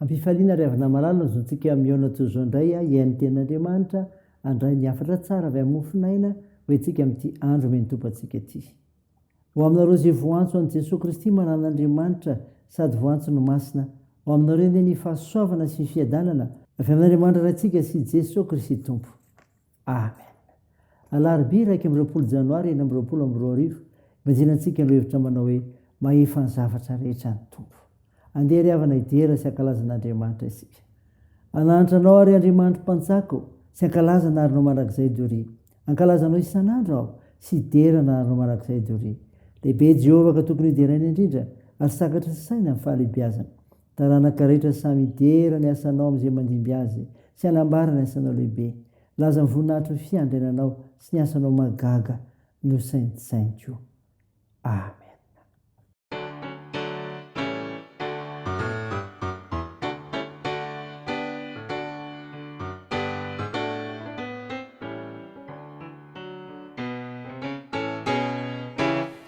Ampifaliana ry havana malala ny zontsika mihaona toy izao indray a hihaino teny Andriamanitra handray ny hafatra tsara avy amin'ny mofon'aina ho entsika amin'ity andro omen'ny Tompo antsika ity. Ho aminareo izay voantso an'i Jesoa Kristy maran'Andriamanitra sady voantso ny Masina, ho aminareo anie ny fahasoavana sy ny fiadanana avy amin'Andriamanitra Raintsika sy Jesoa Kristy Tompo. Amen. Alarobia iraika amby roapolo janoary enina amby roapolo amby roa arivo, ibanjina antsika ireo hevitra manao hoe mahefa ny zavatra rehetra ny Tompo. Andeha ry havana hidera sy hankalaza an'Andriamanitra isika. Anahantra anao ary Andriamanitro Mpanjako sy hankalaza anarinao mandrakizay Dory. Hankalaza anao isan'andro aho sy hidera anarinao mandrakizay Dory. Lehibe Jehovah ka tokony hideraina indrindra ary sakatry ny saina ny fahalehibiazana. Taranaka rehetra samy hidera ny asanao amin'izay mandimby azy, sy hanambara ny asanao lehibe. Laza ny voninahitry ny fiandriananao sy ny asanao mahagaga nosaintsainiko. Amena.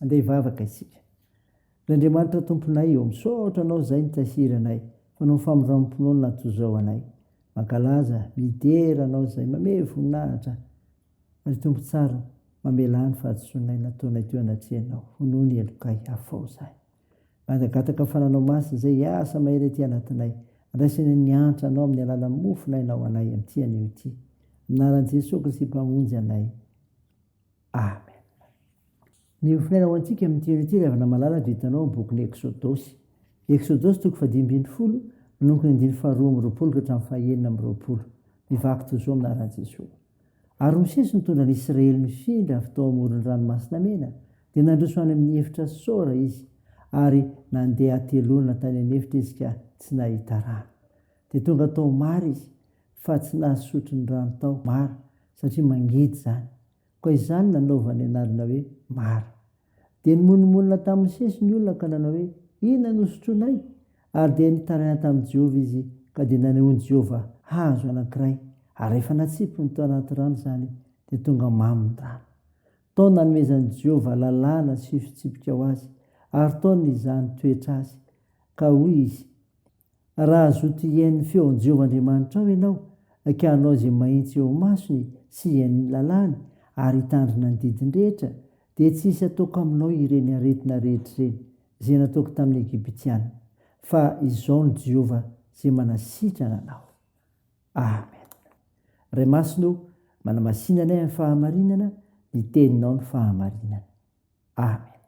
Andeha hivavaka isika. Ry Andriamanitra Tomponay ô, misaotra Anao izay nitahiry anay, fa noho ny famindram-pinoana toy izao anay. Mankalaza, midera Anao izay mamehy voninahitra, ary Tompo tsara, mamelà ny fahadisoanay nataonay teo anatrehanao, honoho ny helokay, afao izany. Mangataka ny Fananao Masina izay hiasa mahery aty anatinay, handraisany ny hantra Anao amin'ny alalan'ny mofonay na ho anay amin'ity anio ity. Amin'ny anaran'i Jesoa Kristy Mpamonjy anay. Amen. Ny hofinaina ho antsika amin'ny tian'i Ty, ry havana malala, dia hitanao amin'ny bokin'ny Eksodosy. Eksodosy toko fahadimy ambin'ny folo, manomboka ny andininy faharoa amby roapolo ka hatramin'ny fahenina amby roapolo. Mivaky toy izao amin'ny anaran'i Jesoa. Ary Mosesy nitondra ny Israely nifindra avy tao amoron'ny Ranomasina Mena, dia nandroso any amin'ny efitra Sora izy, ary nandeha hateloana tany an'efitra izy ka tsy nahita rano. Dia tonga tao Mara izy. fa tsy nahasotro ny rano tao Mara satria mangidy izany. Koa izany nanaovany anarana hoe Mara. Dia nimonomonona tamin'ny sesy ny olona ka nanao hoe, Inona no hosotroinay? Ary dia nitaraina tamin'i Jehovah izy ka dia nanehoan'i Jehovah hazo anankiray, ary rehefa natsipiny tao anaty rano izany, dia tonga mamy ny rano. Tao nanomezan'i Jehovah lalàna sy fitsipika ho azy, ary tao nizaha ny toetra azy, ka hoy izy, Raha zoto hihaino feon'i Jehovah Andriamanitrao ianao, ka hanao izay mahitsy eo masony sy hihaino ny lalàny ary hitandrina ny didiny rehetra, dia tsy hisy hataoko aminao ireny aretina rehetra ireny, izay nataoko tamin'ny Egyptiana. Fa izao no Jehovah izay manasitrana anao. Amen. Ray Masina o, manamasina anay amin'ny fahamarinana, ny Teninao no fahamarinana. Amen.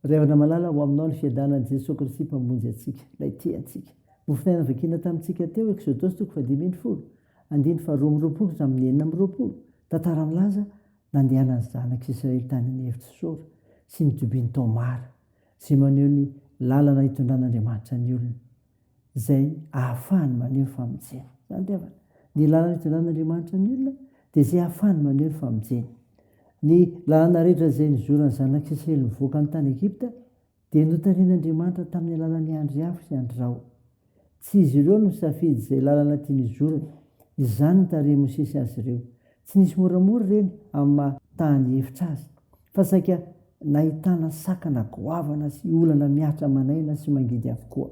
Ry havana malala, ho aminao ny fiadanan'i Jesoa Kristy Mpamonjy antsika, Ilay tia antsika. Nofonaina vakina tamintsika teo, Eksodosy toko fahadimy amby folo, andininy faharoa amby roapolo ka hatramin'ny enina amby roapolo. Tantara milaza, nandehanan'ny zanak'Israely tany amin'ny efitra Sora sy ny Dubin Tomar, izay maneho ny lalana itondran'Andriamanitra ny olony. izay ahafahany maneho ny famonjena. Izany dia havana. Ny lalana hitondrahan'Andriamanitra ny olona dia izay ahafahany maneho ny famonjena. Ny lalana rehetra izay nizoran'ny zanak'Israely nivoaka ny tany Egypta dia notarihin'Andriamanitra tamin'ny alalan'ny andry afo sy andry rahona. Tsy izy ireo no nisafidy izay lalana tiany hizorana. Izany no tarihin'i Mosesy azy ireo. Tsy nisy moramora ireny amin'ny maha taha ny hevitra azy, fa saika nahitana sakana goavana sy olana mihatra aman'aina sy mangidy avokoa.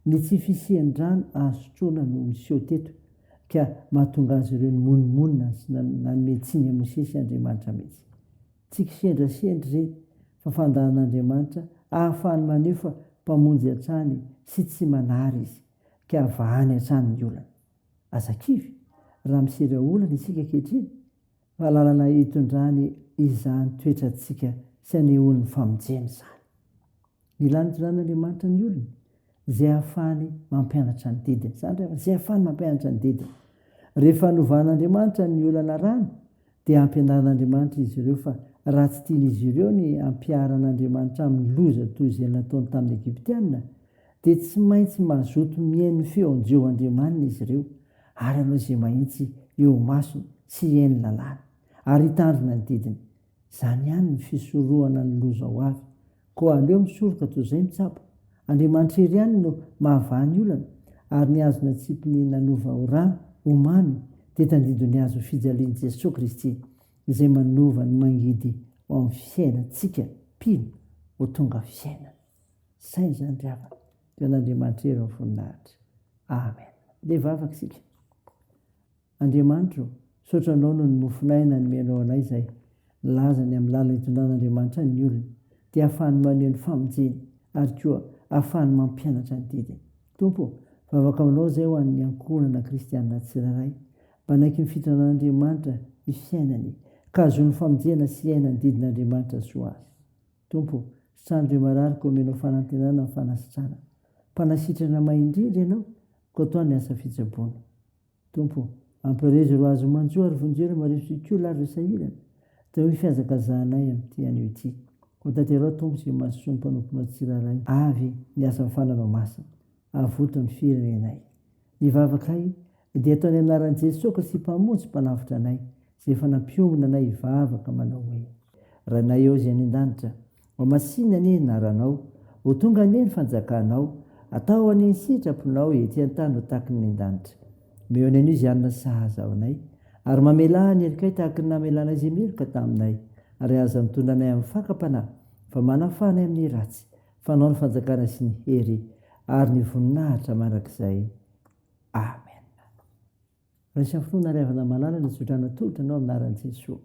Ny tsy fisian-drano azo sotroana no niseho teto, ka mahatonga azy ireo nimonomonona sy nanome tsiny an'i Mosesy Andriamanitra mihitsy. Tsy kisendrasendra ireny, fa fandahan'Andriamanitra ahafahany maneho fa Mpamonjy hatrany sy tsy manary Izy, ka vahany hatrany ny olana. Aza kivy raha misedra olana isika ankehitriny fa lalana hitondrany izany toetrantsika sy anehoany famonjena izany. Mila nitondran'Andriamanitra ny olony izay ahafahany mampianatra ny didiny. Izany rehefa izay ahafahany mampianatra ny didiny. Rehefa novan'Andriamanitra ny olana rano dia hampianarin'Andriamanitra izy ireo fa raha tsy tian'izy ireo ny hampiharan'Andriamanitra amin'ny loza toy izay nataony tamin'ny Egyptiana, dia tsy maintsy mazoto mihaino feo anjeo andriamaniny izy ireo, ary hanao izay mahitsy eo imasony sy hihaino lalàny, ary hitandrina ny didiny. Izany ihany ny fisorohana ny loza ho avy. Koa aleo misoroka toy izay mitsabo. Andriamanitra irery ihany no mahavaha ny olana, ary ny hazo natsipiny nanova ho rano, ho mamy, dia tadidio ny hazo fijalian'i Jesoa Kristy, izay manova ny mangidy ho amin'ny fiainantsika mpino ho tonga fiainana. Saina izany ry havana, dia an'Andriamanitra irery ny voninahitra. Amen. Dia vavaka isika. Andriamanitra ô, misaotra Anao noho ny mofon'aina nomenao anay izay milaza ny amin'ny lalana itondran'Andriamanitra ny olona, dia ahafahany maneho ny famonjeny ary koa ahafahany mampianatra ny didiny. Tompo ô, vavaka Aminao izay ho an'ny ankohonana kristiana tsirairay, mba hanaiky ny fitondran'Andriamanitra ny fiainany, ka hahazoany famonjena sy hiaina ny didin'Andriamanitra soa azy. Tompo ô, sitrano ireo marary ka omenao fanantenana amin'ny fanasitrana. Mpanasitrana mahay indrindra Ianao, koa toa ny asa fitsaboana. Tompo, ampiraizo ry Azy manjo ary vonjeo Maria Sokiola ary ry sahirana, teo amin'ny fihazakazahanay amin'ity anio ity. Hotanterao Tompo izay mahasoa ny mpanomponao tsirairay. Avy ny asan'ny fananao masina, avoto ny firenenay. Ny vavakay dia atao ny anaran'i Jesoa Kristy Mpamonjy Mpanavotra anay, izay efa nampionona anay hivavaka manao hoe. Ranay ao izay any an-danitra, Mamasina anie ny naranao, ho tonga anie ny fanjakanao, atao anie ny sitraponao ety an-tany ho tahaky ny nendanitra. Omeo anay anio izay hanina sahaza ho anay, ary mamelà ny herikay tahaky ny namelanay izay miheroka taminay, ary aza mitondra anay amin'ny fakam-panahy, fa manafaha anay amin'ny ratsy, fa anao ny fanjakana sy ny hery ary ny voninahitra mandrakizay. Amena. Raiso amin'ny finoana ary avana malala ny tsodrano tolotra anao amin'ny anaran'i Jesoa.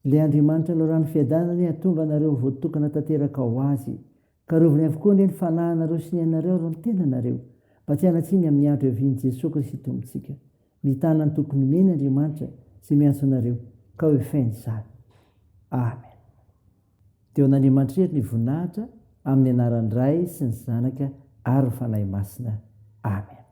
Ilay Andriamanitra loran'ny fiadanana anie hatonga anareo ho voatokana tanteraka ho Azy. Karoviny avokoa anie ny fanahinareo sy ny ainareo ary ny tenanareo, mba tsy hanatsiny amin'ny andro hiavian'i Jesoa Kristy Tompontsika. Mitana ny tokony omeny Andriamanitra izay miantso anareo, ka hoefainy izany. Amen. Dia ho an'Andriamanitra irery ny voninahitra, amin'ny anaran'ny Ray sy ny Zanaka ary ny Fanahy Masina. Amen.